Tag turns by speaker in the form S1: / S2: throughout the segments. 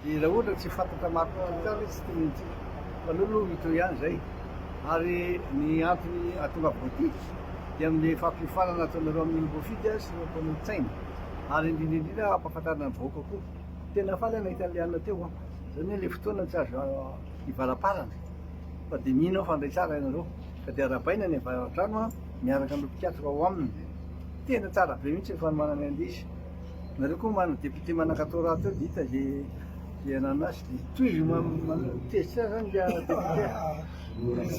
S1: Dia raha ohatra tsy fantatra marina sy tsara izy tsy tokony hitsipika. Aleo aloha hitohy ihany izay. Ary ny antony hahatonga boty dia amin'ilay fampiofanana ataonareo amin'iny mpofidy sy ireo mpanolotsainy. Ary indrindra indrindra hampahafantarina ny vahoaka koa. Tena faly aho nahita an'ilay alina teo an. Izany hoe ilay fotoana tsy azo hivalaparana. Fa dia mino aho fa handray tsara ianareo. Ka dia arahabaina ny avaradrano an, miaraka amin'ireo mpikatroka ao aminy. Tena tsara be mihitsy ny fanomananay andizy. Nareo koa marina député manankatao rahateo dia hita ze ze ananona azy dia tohizo mampihesitra zany dia député.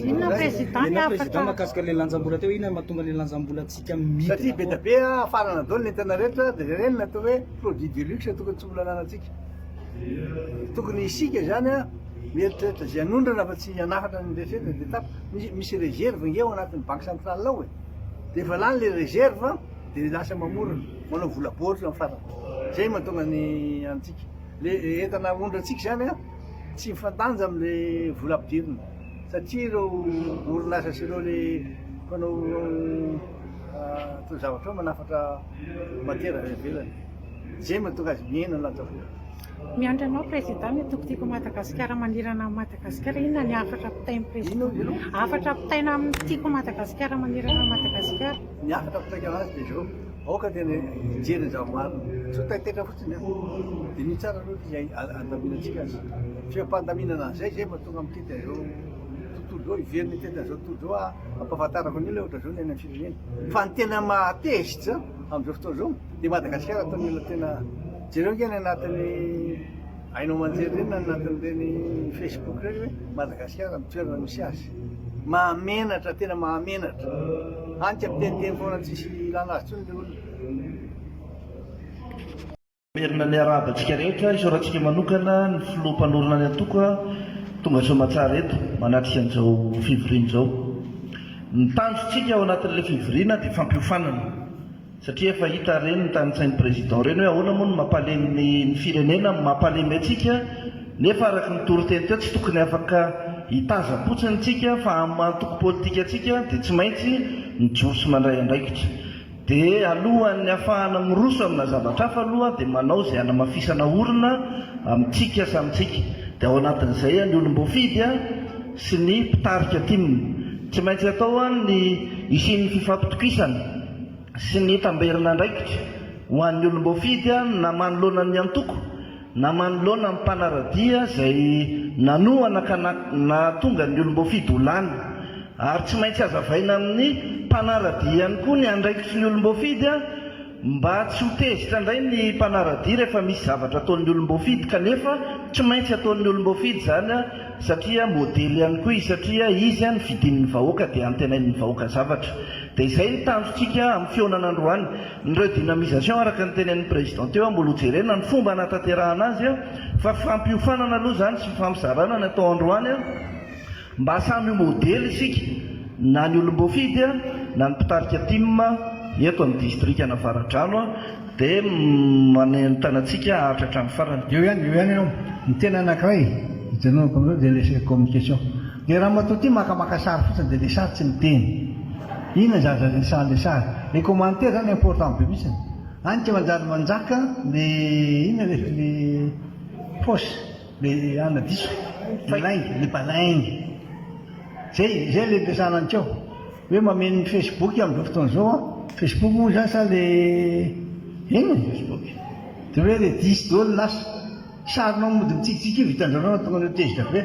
S2: Inona président ny afaka? Président makasika le lanjambola
S3: teo inona matonga le lanjambola tsika midina. Satria be da be
S1: afarana daholo ny entana rehetra dia ireny natao hoe produit de luxe tokony tsy mbola ananantsika. Tokony isika zany a mieritreritra ze anondrana fa tsy hanafatra ny rehetra dia tapitra. Misy réserve nge ao anatin'ny banque centrale ao e. Dia efa lany le réserve. dia lasa mamorona, manao vola baoritra amin'ny farany, izay mahatonga ny antsika le entana aondratsika izany an, tsy mifandanja amin'le vola ampidirina satria ireo orinasa sy ireo le mpanao taozavatra ao manafatra matiera avy any ivelany, izay mahatonga azy mihena ny lanja vola. Miandry anao
S2: Président ny Toko Tiako Madagasikara manerana an'i Madagasikara, inona ny hafatra apitain'ny Président? Hafatra apitaina amin'ny Tiako Madagasikara manerana an'i Madagasikara? Ny hafatra apitaiko
S1: anazy dia izao, aoka dia ny hijery ny zava-marina, tsy ho taitaitra fotsiny an, dia ny tsara aloha dia izay andaminantsika azy, feom-pandaminana an'izay izay vao tonga amin'ity dia izao tontolo izao hiverina ity dia izao tontolo izao hampahafantarako ny olona ohatr'izao ny any amin'ny firenena, fa ny tena mahatezitra amin'izao fotoana izao, Dia Madagasikara atao mila tena jereo nge ny anatin'ny haino aman-jery ireny na ny anatin'ireny Facebook ireny hoe Madagasikara amin'ny toerana misy azy. Mahamenatra, tena mahamenatra. Hany ka miteniteny foana tsisy ilana azy intsony ilay
S4: olona. Merina ny arahaba antsika rehetra, isaorantsika manokana ny filoha mpanorina ny antoko a, tonga soamatsara eto manatrika an'izao fivoriana izao. Ny tanjontsika ao anatin'ilay fivoriana dia fampiofanana. Satria efa hita ireny ny tanintsain'ny Président ireny hoe ahoana moa no mampalemy ny ny firenena no mampalemy antsika nefa araka ny toriteny teo tsy tokony afaka hitazam-potsiny tsika fa amin'ny maha antoko politika antsika dia tsy maintsy mijoro sy mandray andraikitra. Dia alohan'ny hafahana miroso amina zavatra hafa aloha dia manao izay hanamafisana orina amintsika samy tsika. Dia ao anatin'izay an ny olom-boafidy an sy ny mpitarika tim. Tsy maintsy atao an ny hisian'ny fifampitokisana. sy ny tamberin'andraikitra ho an'ny olom-boafidy na manoloana ny antoko na manoloana ny mpanara-dia izay nanohana ka nahatonga ny olom-boafidy ho lany, ary tsy maintsy hazavaina amin'ny mpanara-dia ihany koa ny andraikitry ny olom-boafidy mba tsy ho tezitra indray ny mpanara-dia rehefa misy zavatra ataon'ny olom-boafidy kanefa tsy maintsy ataon'ny olom-boafidy izany satria modely ihany koa izy satria izy an fidin'ny vahoaka dia antenain'ny vahoaka zavatra dia izay ny tanjontsika amin'ny fihaonana androany ny redynamisation araka ny tenenin'ny président teo an mbola ho jerena ny fomba hanatanterahana azy an fa fampiofanana aloha izany sy fifampizarana ny atao androany an mba samy ho modely isika na ny olom-boafidy an na ny mpitarika tim eto amin'ny distrikana avaradrano an Dia manentana antsika haharitra hatramin'ny farany. Eo ihany, eo ihany ianao.
S1: Ny tena anankiray ijanonako amin'izao dia ilay communication. Ilay ramatoa ity maka maka sary fotsiny dia ilay sary tsy miteny. Inona zaza resahan'ilay sary. Ilay commentaire izany important be mihitsy. Any tsy manjary manjaka ny inona ilay ny fausse, ilay anona diso, ilay lainga, ilay balainga. Izay, izay ilay resahana antsika ao. Hoe mameno ny facebook amin'izao fotoana izao an! Facebook moa izany sa le inona ny facebook? Dia hoe redis daholo ny asa! Sarinao mody mitsikitsiky io vitan-dranao no tonga anao tezitra be!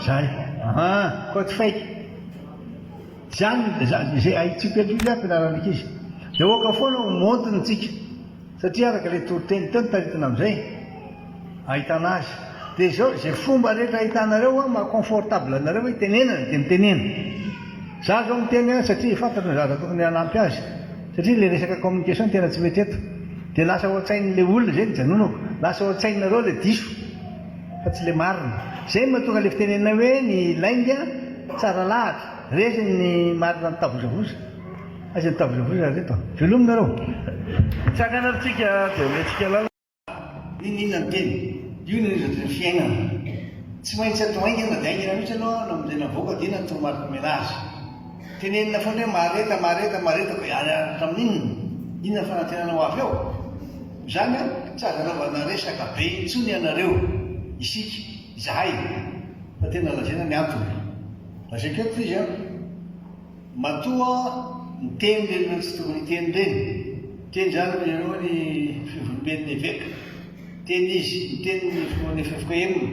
S1: Zay! Aha! Côte fake! Izany, izay haintsika eto io izany fianaran'ny ankizy! Dia aoka foana ho montre-ntsika! Satria araka ilay toriteny teo nitaritina amin'izay ahitana azy. Dia izao, izay fomba rehetra ahitanareo an, maha confortable anareo hitenenana dia mitenena. Izaho izao miteny an, satria fantatro ny zaza tokony hanampy azy. Satria ilay resaka communication tena tsy mety eto. Dia lasa ao an-tsain'ilay olona izay ny hijanonako. Lasa ao an-tsainareo ilay diso fa tsy ilay marina. Izay no mahatonga ilay fitenenana hoe ny lainga tsara lahatra. Resy ny marina mitavozavoza. Aiza ny table rouge ry reto a! Velominareo! Mitsangana
S4: ary tsika dia omentsika lalana. Inona inona
S1: ny teny? Io no hevitry ny fiainana. Tsy maintsy atao haingana dia haingana mihitsy aloha no amin'izay navoaka dia inona no toromarika omena azy. Tenenina foana hoe mahareta, mahareta, mahareta fa hiala hatramin'inona? Inona ny fanantenana ho avy eo? Izany an, tsy azo anaovana resaka be intsony ianareo, isika, izahay, fa tena lazaina ny antony. Lazaiko eto izy an. Matoa miteny ireny ireo tsy tokony hiteny ireny. Teny izany ry ianao ny Filoham-pivoriamben' ny Eveka. Teny izy, niteny ny Filohan' ny Efoka Emina,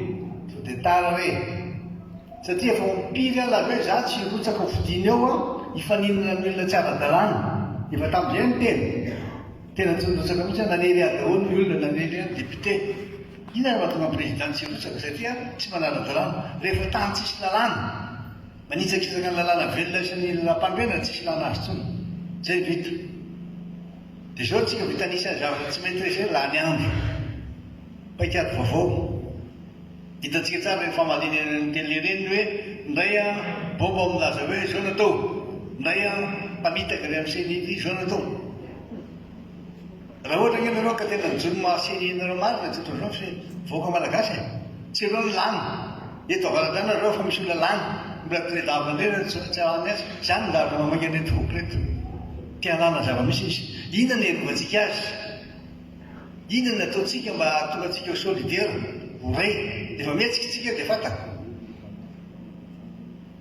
S1: sao dia tara re. Satria efa ho mpiry aho lazaina izaho tsy hirotsaka ho fidiny eo an, hifaninana amin'ny olona tsy ara-dalàna. Efa tamin'izay no teny. Tena tsy nirotsaka mihitsy aho, nanely ahy daholo ny olona, nanely ahy ny député. Inona no mahatonga ny président tsy hirotsaka? Satria tsy manara-dalàna. Rehefa tany tsisy lalàna. Manitsakitsaka ny lalàna velona sy ny lalam-panorenana tsy filàna azy intsony. Izay vita. Dia izao tsika vitan'isa ny zavatra tsy maîtriser, lany andro. Paikady vaovao. Hitantsika tsara ireny fahamaliana eny amin'ny télé ireny ny hoe indray an, Bob milaza hoe izao no atao. Indray an, mpamitaka avy amin'ny CNIDI izao no atao. Raha ohatra ange nareo ka tena mijono mahasiny nareo marina tsy ataonareo fe vahoaka malagasy e! tsy ireo no lany eto avaradrano nareo fa misy olona lany mbola tredava ndray nareo tsy tsy awa miasa zany no dahavina mamainga an'ireto voky reto te hanana zavamisy izy inona no hiarovatsika azy inona no ataontsika mba hahatonga antsika ho solidaire ho ray rehefa mihetsiky tsika de fataka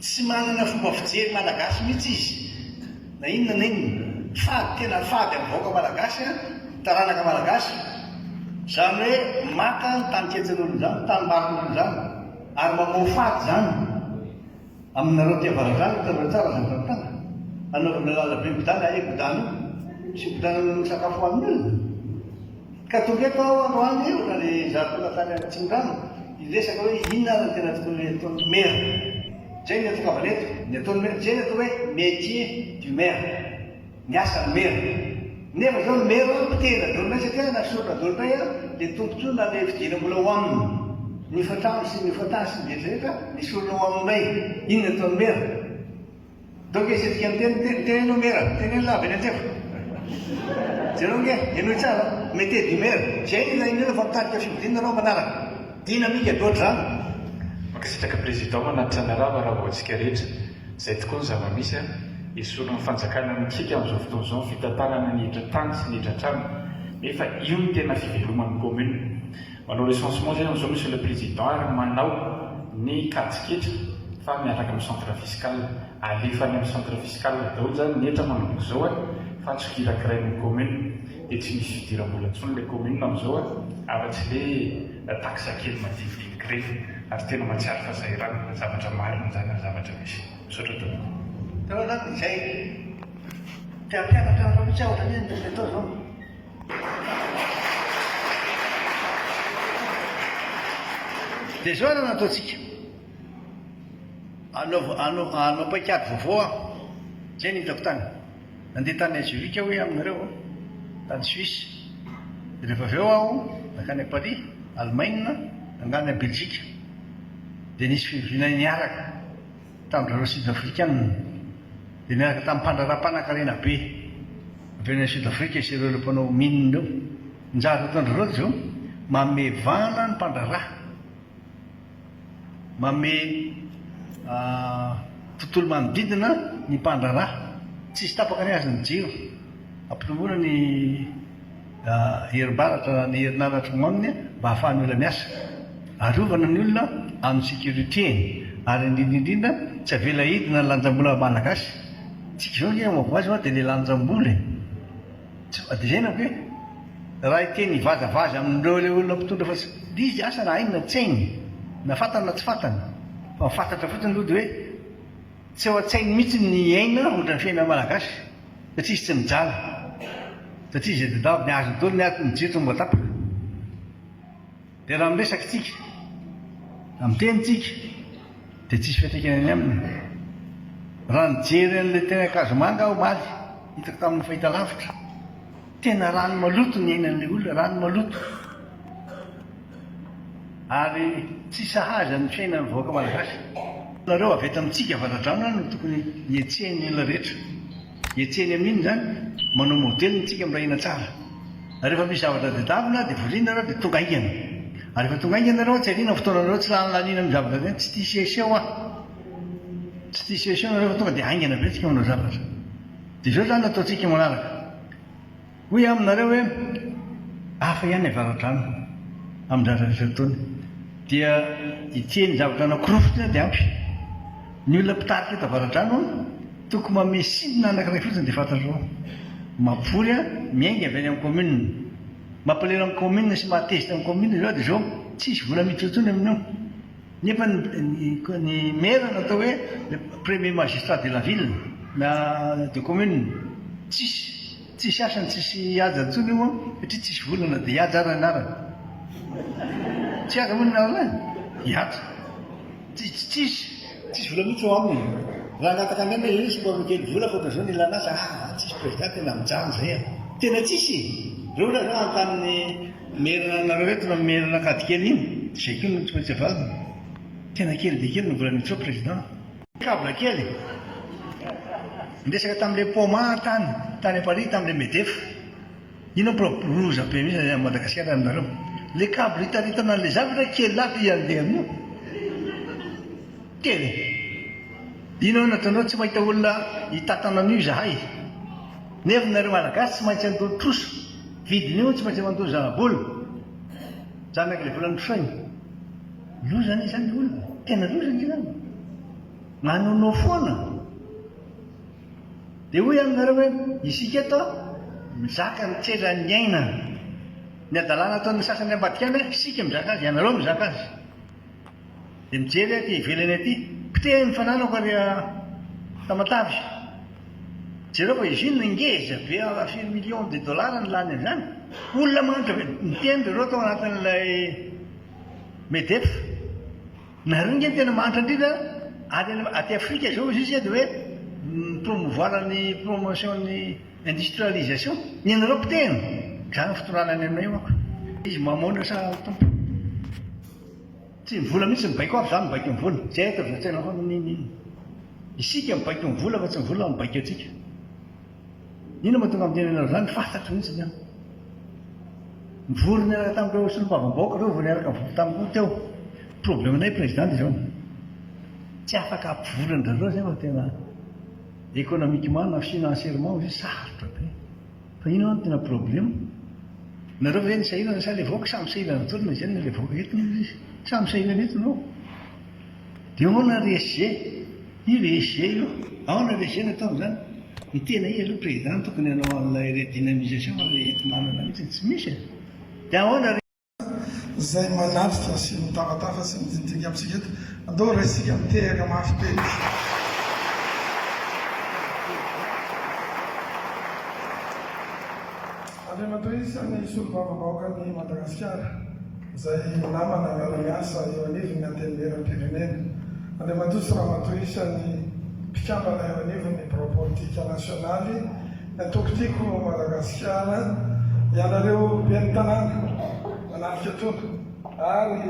S1: Tsy manana fomba fijery malagasy mihitsy izy na inona na inona. Fady tena fady amin'ny vahoaka malagasy an, ny taranaka malagasy. Izany hoe maka ny tanikelin'olona izany, tanimbarin'olona izany ary mamoha fady izany aminareo aty avaradrano hitanareo tsara izany fanontana anaovana lalabe migodana ae godano sy migodana ny sakafo hohanin'olona. Ka tonga eto aho androany io na dia izaho tonga tany Atsimo-drano hiresaka hoe inona ary ny tena tokony hataon'ny Maire. Izay no niantsokavana eto. Ny ataon'ny Maire dia izay ny atao hoe métier du Maire. Ny asan'ny Maire. Nefa izao ny Maire hoe potehina daholo indray satria na sorona daholo indray ary dia tombotsoa na ilay vidiana mbola ho aminy. Ny hofa-trano sy ny hofa-tany sy ny rehetra rehetra, ny sorona ho aminy indray. Inona ny ataon'ny Maire? Donk izy hetsika ny teniny teny teny aloha mera teneno lava eny an-tsehatra jereo nge henoy tsara mete di mera zay ny ilain'ny olona fa mitarika fihodinana ianao manaraka dynamique de ohatr'izany Mankasitraka
S5: Président manatitra ny rava raha voantsika rehetra. Izay tokoa ny zava-misy an! Esorin' ny fanjakana mikiky amin'izao fotoana izao ny fitantanana ny hiditra tany sy ny hiditra trano. Nefa io no tena fiveloman' ny commune. Manao recensement zay amin'izao Monsieur le Président ary manao ny kajiketra fa miaraka amin'ny centre fiscal. Alefa any amin'ny centre fiscal daholo zany ny hetra manomboka izao a fa tsy kirakirain'ny commune. Dia tsy misy fidiram-bola intsony ilay commune amin'izao a afa-tsy ilay taxe kely madinidiniky ireny. Ary tena mahatsiaro fa sahirana. Zavatra marina izany ary zavatra misy. Misaotra tompoko. Teo aloha
S1: izay te hampianatra anareo mihitsy aho ohatran'ny hoe nisy atao izao. Dia izao ary no ataontsika, hanao paikady vaovao aho, izay no hitako tany. Nandeha tany Ajovika aho hoe aminareo, tany Suisse, dia rehefa avy eo aho nankany Paris, Alemaina, nangany Beljika. Dia nisy fivoriana niaraka. tamin'ireo Sud-Afrikana dia niaraka tamin'ny mpandraharaha mpanankarena be avy any Sud-Afrika sy ireo ireo mpanao mine ireo. Njary ataon-dry Rojo, manome vahana ny mpandraharaha, manome tontolo manodidina ny mpandraharaha, tsisy tapaka ny hazo ny jiro, hampitombona ny. herimbaratra na ny herinaratra ao aminy mba hahafahan'ny olona miasa. Arovana ny olona amin'ny sécurité-ny ary indrindra indrindra tsy avela hidina ny lanjam-bola malagasy. Tsika izao anie mazava hoazy fa dia ilay lanjam-bola e! Tsy fa dia izay ny amiko e! Raha hiteny hivazavaza amin'ireo ilay olona mpitondra fa tsy dia izy asa na hainy na tsy hainy, na fantany na tsy fantany, fa ny fatratra fotsiny aloha dia hoe, Tsy ao an-tsainy mihitsy ny aina ohatran'ny fiainan'ny Malagasy satria izy tsy mijaly, satria izay tadiaviny azony daholo ny atiny, mijery tonga tapaka. Dia raha miresaka isika, raha miteny isika dia tsisy fiantraikany ny aminy. Raha nijery an'ilay teny Ankazomanga aho omaly, hitako tamin'ny fahitalavitra, Tena rano maloto ny ainan'ilay olona, rano maloto. Ary tsy sahaza ny fiainan'ny vahoaka malagasy. Nareo avy eto amintsika avaradrano no tokony hihetsehan'ny olona rehetra. Hihetsehany amin'inona izany? Manao modely ny tsika miray hina tsara. Ary rehefa misy zavatra tadiavina dia voriana nareo dia tonga haingana. Ary rehefa tonga haingana nareo tsy ariana ny fotoana nareo, tsy lany laniana amin'ny zavatra tadiavina, tsy tia seho seho an. Tsy tia seho seho nareo fa tonga dia haingana be ny tsika manao zavatra. Dia izao izany no ataontsika manaraka. Hoy aho aminareo hoe, Hafa ihany ny avaradrano amin'ny dradra'ireo ataony. Dia ity eny zavatra anankiroa fotsiny dia ampy. Ny olona mpitarika eto avaradrano, tokony manome signe anankiray fotsiny dia fantatrao. Mapory, miainga avy any amin'ny commune. Mampalahelo amin'ny commune sy mahatezitra ny commune izao dia izao, tsy hisy vola miditra intsony amin'io. Nefa ny maire natao hoe le premier magistrat de la ville na de commune tsisy tsisy asa ny tsisy haja intsony io satria tsisy vola na de hihaja ara ny anarany tsy haja moa ny anarany e hihaja tsisy tsisy tsisy vola mihitsy eo aminy raha angataka indray hoe io somary kely vola fa ohatran'izao ny ilana asa ah tsisy president tena mijanona zay ah tena tsisy e reo olona zao hanontany ny Merina anareo eto na merina kady kely iny zay koa no tsy maintsy avalony. Tena kely dia kely no vola nitsoa président. Cable kely e! Niresaka tamin'ilay poma tany tany à Paris tamin'ilay Medef. Iny aho pro loza be mihitsy any Madagasikara aminareo. Ilay cable itaritana an'ilay zavatra kely aby i Andean io. Kely e! Iny aho nataonareo tsy mahita olona hitatana an'io izahay. Nefa nareo Malagasy tsy maintsy handoa trosa. Vidin'io tsy maintsy manontolo zanabola. Janaka ilay vola notrosainy. Loza anie izany ilay olona. Tena loza anie izany. Manonofy foana. Dia hoy aminy nareo hoe, isika eto mizaka ny tseran'ny aina. Ny hadalana ataon'ny sasany ambadika any, isika mizaka azy, ianareo mizaka azy. Dia mijery aty ivelany aty, poteha ny fananako ry Tamatave. Jereo fa izy io no ngeza be à firy millions de dollars no lany amin'izany. Olona mahantra be, niteny ry reo tao anatin'ilay MEDEF, nareo nge no tena mahantra indrindra any aty Afrika izao izy io dia hoe mi-promouvoir ny promotion ny industrialisation, ny anareo potehina. Zany ny fitondrana any aminay io manko. Izy mamono sa Tompo? Tsy ny vola mihitsy no baiko afa zah no baiko ny vola, tsy aiko zah tsy hainao fa maninona inona. Isika no baiko ny vola fa tsy ny vola no baiko antsika. Inona mahatonga aho miteny anareo izany, fantatro mihitsy ny ahy. Nivory niaraka tamin'ireo solombavambahoaka ireo vao niaraka nivory tamiko koa teo. Problemanay président dia izao, tsy afaka hampivory an-dry zareo izay fa tena économiquement na financièrement hoy izy sarotra be. Fa inona no tena problème? Nareo ve no sahirana sa le vahoaka? Samy sahirana daholo na izany na le vahoaka eto na iza. Samy sahirana eto no. Dia ahoana ry SG? Io ry SG io. Ahoana ry SG no ataony izany? Ny tena izy aloha président no tokony hanao an'ilay redynamisation fa le eto manana mihitsy tsy misy e. Dia ahoana ry. izay
S6: manatrika sy mitafatafat sy midinidiniy amintsika eto. Andao raisintsika mitehaka mafy be izy. Andriamatoa isan'ny Solombavambahoakan'i Madagasikara, izay namana miara-miasa eo anivon'ny Antenimieram-pirenena. Andriamatoa sy Ramatoa isan'ny mpikambana eo anivon'ny Birao Politika Nasionaly, Natoky tiako Madagasikara ianareo ben'ny tanàna mananika toana ary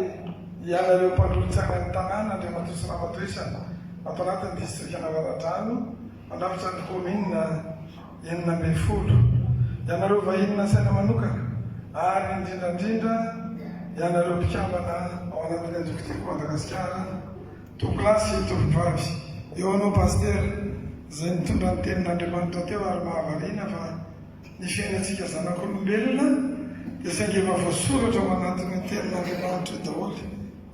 S6: ianareo mpandrohy tsainan'ny tanàna Andriamatoa sy Ramatoa isany ato anatin'ny distrikan'Avaradrano mandrafitra ny kaominina enina ambin'ny folo, ianareo vahiny nasaina manokana ary indrindrandrindra ianareo mpikambana ao anatin'ny antoko Tiako Madagasikara. Tonolahy sy tovovavy. Eo anao Pasitera, izay nitondra ny tenin'Andriamanitra teo ary mahavariana fa ny fiainantsika zanak'olombelona dia saingy efa voasoratra ao anatin'io tenin'Andriamanitra io daholo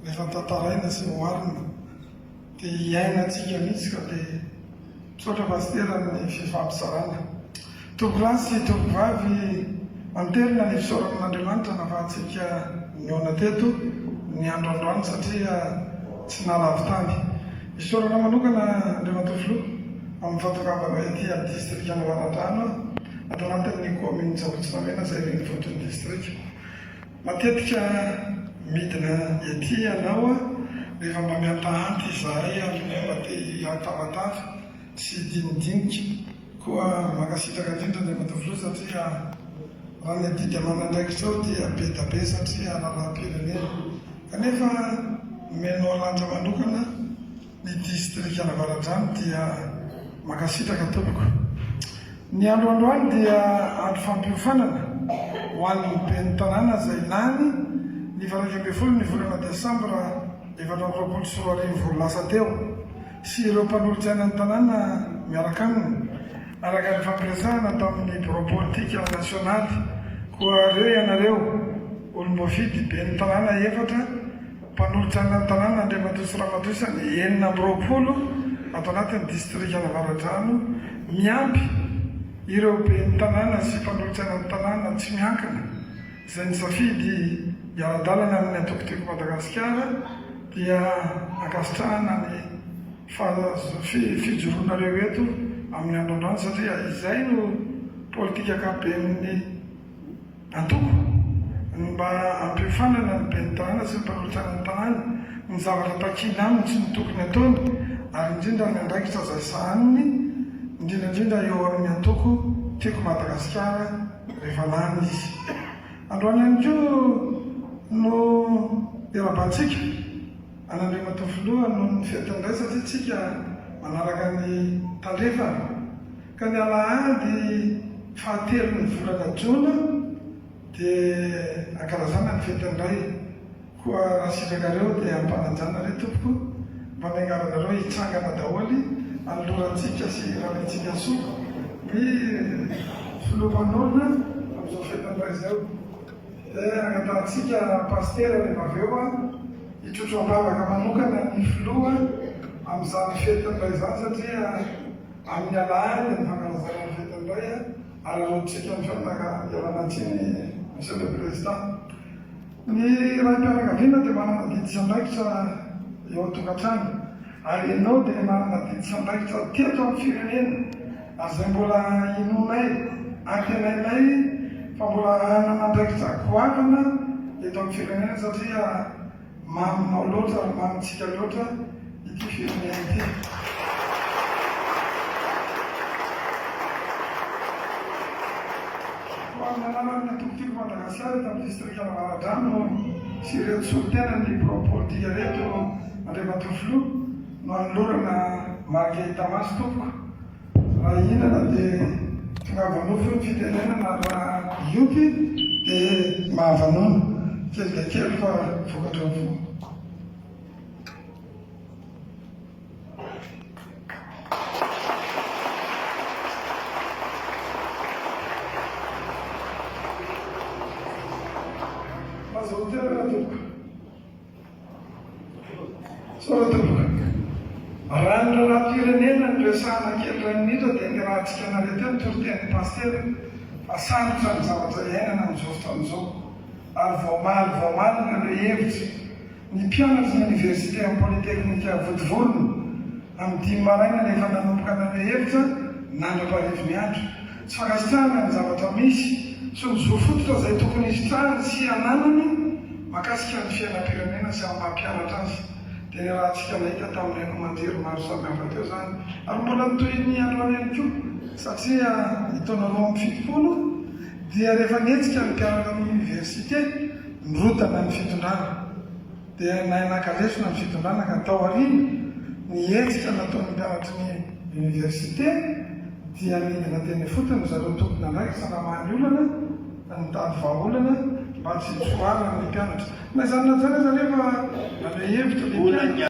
S6: rehefa tantaraina sy oharina dia iainantsika mihitsy ka dia Misaotra Pasitera amin'ny fifampizarana. Tovolahy sy tovovavy, manterina ny fisaorana an'Andriamanitra nahafahantsika nihaona teto ny andro androany satria tsy nahalavo tany. Isaorana manokana Andriamatoa Filoha amin'ny fahatongavanao ety amin'ny Distrikan'i Valandrano ato anatin'ny Kaominina Sabotsy Namena izay renivohitr'ny Distrika. Matetika midina ety ianao rehefa mba mihantahanty izahay amin'ny mba te hihatabataba sy hidinidinika. Koa mankasitraka indrindra ny Matoa Filoha satria raha ny adidy aman'andraikitrao dia be da be satria raharaham-pirenena. Kanefa nomenao ratra manokana. ny distrika Navaradrano dia mankasitraka tompoko. Ny andro androany dia andro fampiofanana ho an'ny ben'ny tanàna izay lany ny valo iraika ambin'ny folo ny volana desambra efatra amby roapolo sy roa arivo lasa teo sy ireo mpanolotry ainan'ny tanàna miaraka aminy araka ny fampiresahana tamin'ny birao politika nasionaly koa re ianareo olom-boafidy ben'ny tanàna efatra Mpanolotra ny Lanontanana Andriamatoa sy Ramatoa isan'ny enina amby roapolo ato anatin'ny Distrikan'i Avaradrano miampy ireo Ben'ny Tanàna sy Mpanolotra ny Tanàna tsy miankina izay nisafidy hiara-dalana amin'ny Antoko Tiako Madagasikara dia ankasitrahana ny fijoroanareo eto amin'ny andro androany satria izay no Politik'ankapoben'ny Antoko, ny mba hampiofanana ny ben'ny tanàna sy ny mpanolo-tsaina ny tanàna, ny zavatra takiana aminy sy ny tokony ataony, ary indrindra ny andraikitra izay sahaniny, indrindra indrindra eo amin'ny antoko Tiako Madagasikara rehefa lany izy. Androany ihany koa no iarahabantsika an'Andriamatoa Filoha noho ny fetin'ny ray satria tsika manaraka ny tandrefana. Ka ny alahady fahatelon'ny volana jona dia ankalazana ny fetin'ny Ray. Koa raha sitrakareo dia ampanajana re tompoko mba niangavanareo hitsangana daholo any lorantsika sy ralaintsika soa ny Filoha Mpanorina amin'izao fetin'ny Ray izao. Dia angatahantsika Pasitera rehefa avy eo hitrotro am-bavaka manokana ny Filoha amin'izany fetin'ny Ray izany satria amin'ny alahan'ny fankalazana ny fetin'ny Ray ary hanolontsika ny fiaraha-mialana tsiny ny Monsieur le Président. Ny Raim-pianakaviana dia manana didy sy andraikitra eo an-tokantrano ary ianao dia manana didy sy andraikitra teto amin'ny firenena ary izay mbola inoanay, antenainay fa mbola hanana andraikitra goavana eto amin'ny firenena satria. Maminao loatra ary mamintsika loatra ity firenena ity. Ho amin'ny anaran'ny antokotiko Madagasikara eto amin'ny distrikan'ny Avaradrano sy ireto solontenan'ny Propordia ireto, Andriamatoa Filoha, no anolorana marika hita maso tompoko Raha hihinana dia tongava nofo io ny fitenenana raha hiompy dia mahavanona. Kely dia kely fa vokatra avokoa. Aza ho teraka tompoko. Soratra Voalohany. Raha ny lalam-pirenena no resahana kely iray minitra dia ny rahantsika naleha teo ny toritenin'ny Pasitera fa sarotra ny zavatra iainana amin'izao fotoana izao ary voamaly voamaly ny naleha hevitra ny mpianatry ny Oniversite amin'ny Polytechnique Votovorona amin'ny dimy maraina rehefa nanomboka naleha hevitra nandra-parivo ny andro Tsy fankasitrahana ny zavatra misy sy ny zo fototra izay tokony hisitrahany sy hananany makasika ny fiainam-pirenena sy amin'ny maha-mpianatra azy dia ny rahantsika nahita tamin'ny haino aman-jery maro samihafa teo izany ary mbola ny tohin'ny androany ihany koa. Satria ny taona roa amby fitopolo dia rehefa nihetsika ny mpianatra amin'ny oniversite, nirotana ny fitondrana. Dia nahay naka lesona ny fitondrana ka tao aoriana, ny hetsika nataon'ny mpianatry ny oniversite dia nidina teny ifotony ry zareo tompon'andraikitra namaly olana, nitady vahaolana mba tsy hitroaran'ny mpianatra. Na izany na izany aza anefa, nanome hevitra ny mpianatra.